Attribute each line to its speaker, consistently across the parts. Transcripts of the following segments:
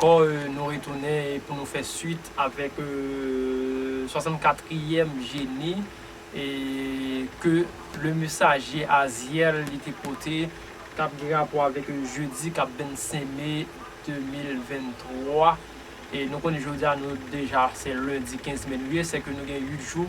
Speaker 1: Kor nou retounen pou nou fè swit avèk 64 trièm jeni ke le mesaje a zyèl li te pote kap gen rapò avèk jedi kap 25 me 2023 e nou konnen jodi a nou deja se lendi 15 me nou ye sèke nou gen 8 jou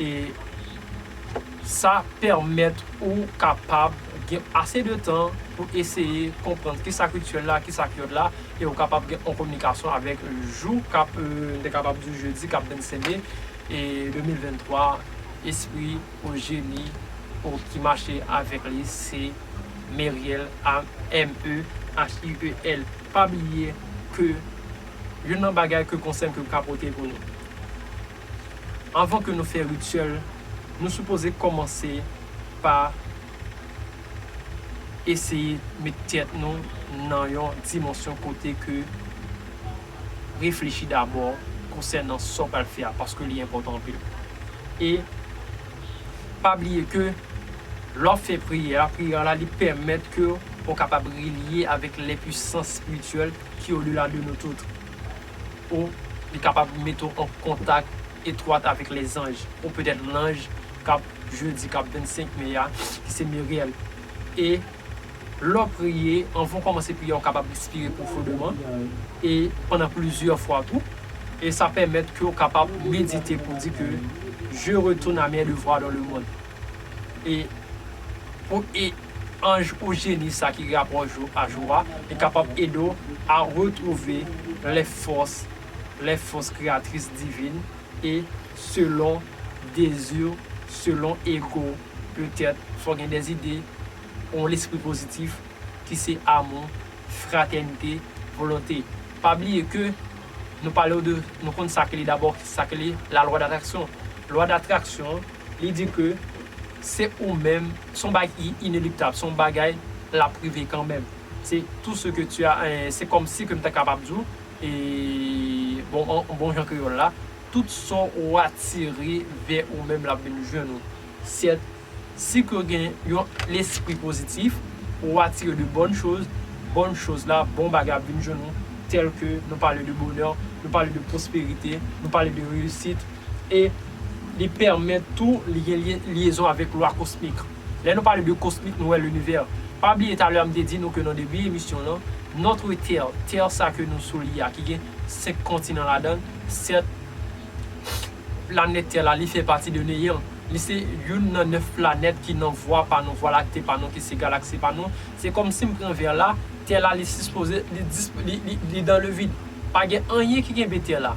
Speaker 1: e sa pèmèt ou kapab gen ase de tan pou eseye konprann ki sa k rityèl la, ki sa k yòd la, e ou kapab gen yon kominikasyon avèk jou k ap, m te kapab di jedi k ap 25 me 2023, espri ou jeni ou ki mache avèk li se Meriel A M E H I E L Pa bliye ke youn nan bagay ke konsèy m ke m ka pote pou nou. Anvan ke nou fè rityèl, nou sipoze kòmanse pa eseye met tèt nou nan yon dimansyon kote ke reflechi dabò konsènan sa w pral fè a, paske li enpòtan anpil. E pa bliye ke lè w ap fè priyè a, priyè la li pèmèt ke ou kapab relye avèk lè pwisans espirityèl ki odela de nou tout. O Li kapab mete w an kontak etwat avèk lèzanj, o petèt lanj k ap jedi k ap 25 me a, ki se Muriel. E lè w priye, anvan w kòmanse priyè a, w kapab respire pwofondeman, e pandan plizyè fwa tou. E sa pèmèt ke w kapab medite pou w di ke, Je retourne à mes devoirs dans le monde. e pou e anj ou jeni sa ki rapò jou a jou a, li kapab ede w a retwouve lè fòs, lè fòs kreyatris divin e selon dezi w, selon ego w, petèt fò gen dè zide yon lespri pozitif ki se amou, fratènite, volonte. Pa bliye ke. Nou palew de nou konn sa ki li dabò sa ki li la lwa datraksyon lwa datraksyon li di ke se ou menm son bagay ki ineliptab son bagay lap rive kanmenm se tou se ke tu a se kòm si ke m ta kapab diw bon an bon jan kreyòl la tout sa ou atire vè ou menm lap vin jwenn ou sèt. Si ke w gen yon lespri pozitif, ou atire de bòn choz, bòn choz la, bon bagay ap vin jwenn ou, tèl ke nou pale de bonè, nou pale de pwosperite, nou pale de reyisit, e li pèmèt tou li gen lyezon avèk lwa kosmik. Lè nou pale de kosmik nou wè linivè. Pa bliye talè m te di nou ke nan debi emisyon lan, notre terre, tè sa ke nou sou li a ki gen 5 kontinan ladan l, 7. Planèt tè la li fè pati de neyan. Li se youn nan 9 planèt ki nan vwa pa nou, vwa lakte pa nou, ki se galaksi pa nou. Se kòmsi m pran vè la, tè la li sispoze, li dis, li, li, li dans le vide. Pa gen anyen ki kenbe tè la.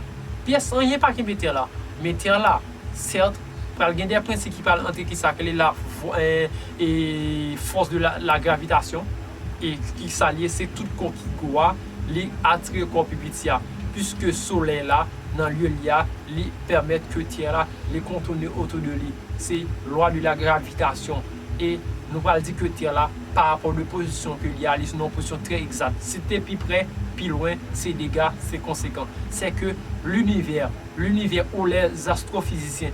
Speaker 1: Pyès anyen pa kenbe tè la. Men tè la, sèt, pral gen de prinsi ki pral antre ki sa k rele la, vwa, e, e, force de la, la gravitation. e ki sa l ye se tout kò ki gwo a, li atire kò pi piti a, piske solèy la nan lye li a, li pèmèt ke tè la li kontoune otou de li, se lwa de la gravitasyon, e nou pral di ke tè la pa rapò de pozisyon ke li a, li nan yon pozisyon trè egzat, si te pi prè, pi lwen, se dega, se konsekan, sè ke linivè, linivè ou lè zastwofizisyen.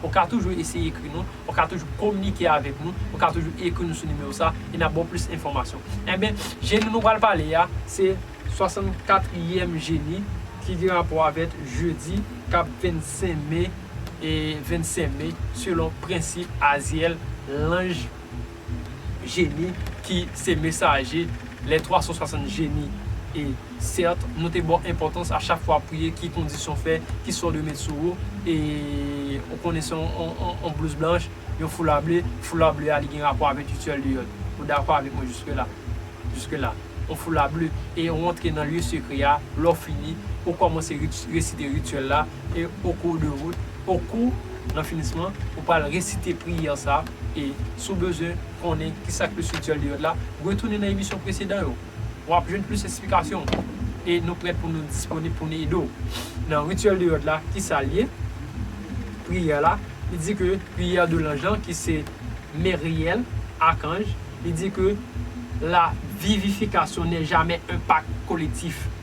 Speaker 1: Ou ka toujou eseye ekri nou, ou ka toujou kominike avèk nou, ou ka toujou ekri nou sou nimewo sa e n ap ba w plis enfòmasyon. Enben, jeni nou pral pale a, se 64 yèm jeni ki gen rapò avèk jedi k ap 25 me, 25 me, selon prensip Azyèl, lanj. jeni ki se mesaje les 360 jeni e sèt nou te baw enpòtans a chak fwa wap priye ki kondisyon fè ki sa ou dwe met sou ou e ou konnen se yon blouz blanch yon foula ble foula ble a li gen rapò avèk rituel de yòd ou dakò avèk mwen jiske la jiske la yon foula ble e ou antre nan lye sekre a lè ou fini ou kòmanse resite rituel la. E au cours de route, au cours, nan finisman, ou pral resite priyè sa a, e si w bezwen konnen ki sa k plis ityèl de yòd la, retounen nan emisyon presedan yo. W ap jwenn plis esplikasyon. E nou prèt pou nou disponib pou nou ede w. Nan rityèl de yòd la, ki sa l ye? Priyè la, li di ke priyè de lanj lan ki se Meryèl, akanj, li di ke la vivifikasyon nè jamè un pak kolektif.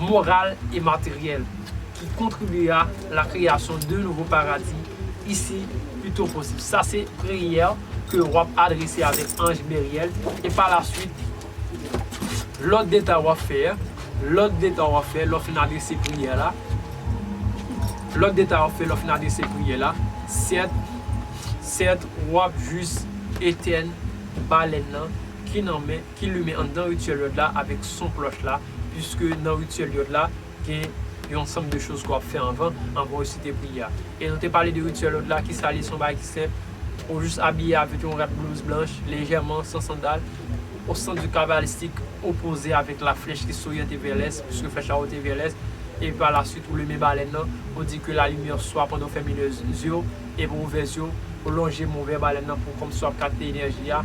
Speaker 1: moral e materyèl ki kontribye a la kreyasyon de nouvo paradi isi pito posib. Sa se priyè ke wap adrese avèk anj Meryèl e pa la swit lòt deta wap fè, lòt deta wap fè lò fin adrese priyè la, lòt deta wap fè lò fin adrese priyè la, sèt, sèt wap jis etèn balèn nan ki nan men ki limen anndan rityèl Yòd la avèk son klòch la, piske nan rityèl Yòd la, gen yon ansanm de choz ke w ap fè anvan, anvan w resite priyè a. E nou te pale de rityèl Yòd la, kisa li ye? Se yon bagay ki senp, ou jis abiye avèk yon rad blouz blanch, lejèman, san sandal, o sans du cabalistique, opoze avèk la flèch ki soryante vè lès, piske flèch la oryante vè lès, epi pa la suit ou limen balèn nan, ou di ke la lumière soit pandan w fèmen lè zye w, Epi ou vès yo, ou lonje mou vè balèn nan pou kòm si wap kapte enèji a.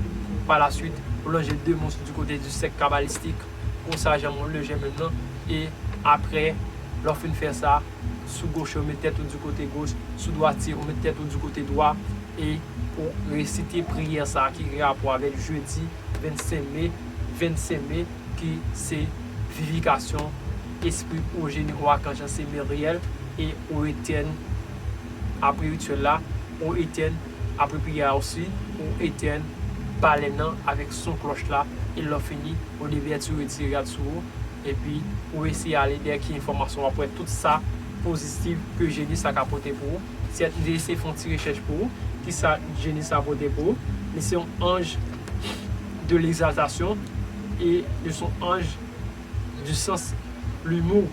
Speaker 1: Pa la swit, ou lonje de mous di kote di sèk kabalistik, kon sa jan moun le jèmèn nan, e apre, lè w fin fè sa, sou goche ou met tèt ou di kote goch, sou dwati ou met tèt ou di kote dwa, e ou resite priyè sa a ki gen rapò avèk jedi 25 me, 25 me, ki se vivikasyon espri ou jeni ou akanj lan se Meryèl, e ou etèn. apre rityèl la, ou etèn, apre priyè a osi, ou etèn balèn nan avèk son klòch la, e lè w fini, ou devètire ti rad sou ou, epi ou eseye ale dèyè ki enfòmasyon w ap wè tout sa pozitiv ke jeni sa ka pote pou ou. Sèt li eseye fè yon ti rechèch pou ou, ki sa jeni sa pote pou ou, li se yon anj de legzaltasyon, e li se yon anj. du sens, l'humour,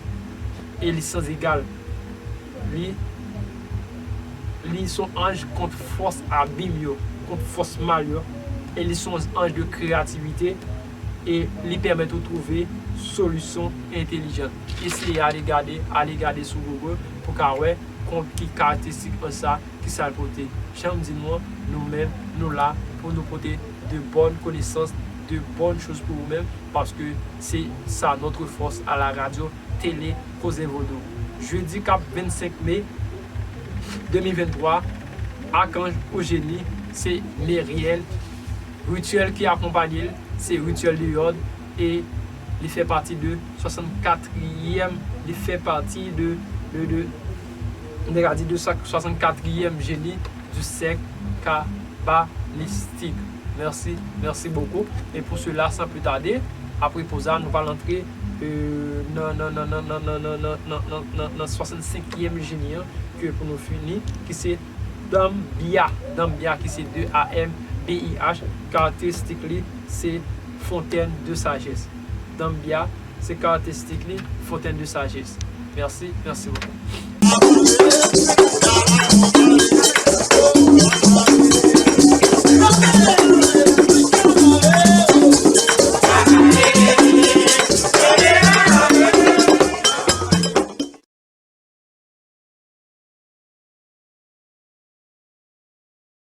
Speaker 1: e li sans egal. Li Li son anj kont fòs abim yo, kont fòs mal yo, e li son anj de kreyativite, e li pèmèt ou twouve solisyon entelijan. Eseye ale gade, ale gade sou Google pou ka wè ki karakteristik anj sa. Ki sa l pote? Jan m di nou an, nou menm, nou la pou nou pote de bòn konesans, de bòn choz pou ou menm, paske se sa notre force à la radio tele Koze Vodou. Jedi k ap 25 me 2023, Akanj ou Jeni, se Meriel, rityèl ki akonpanye l, se rityèl de Yòd e li fè pati de 64 yèm, li fè pati de, de, de. Nou te ka di 264 ièm jeni di syèk kabalistik. Mèsi, mèsi bokou. E pou sela san pli tade, apre poz la nou pral antre nan nan nan nan nan nan nan nan nan nan nan 65 ièm jeni an ke pou nou fini ki se Danbya, Danbya ki se DANBIH karakteristik li se fontèn de sajès. Danbya. Se karakteristik li, fontenn de sajès. Mèsi, mèsi bokou.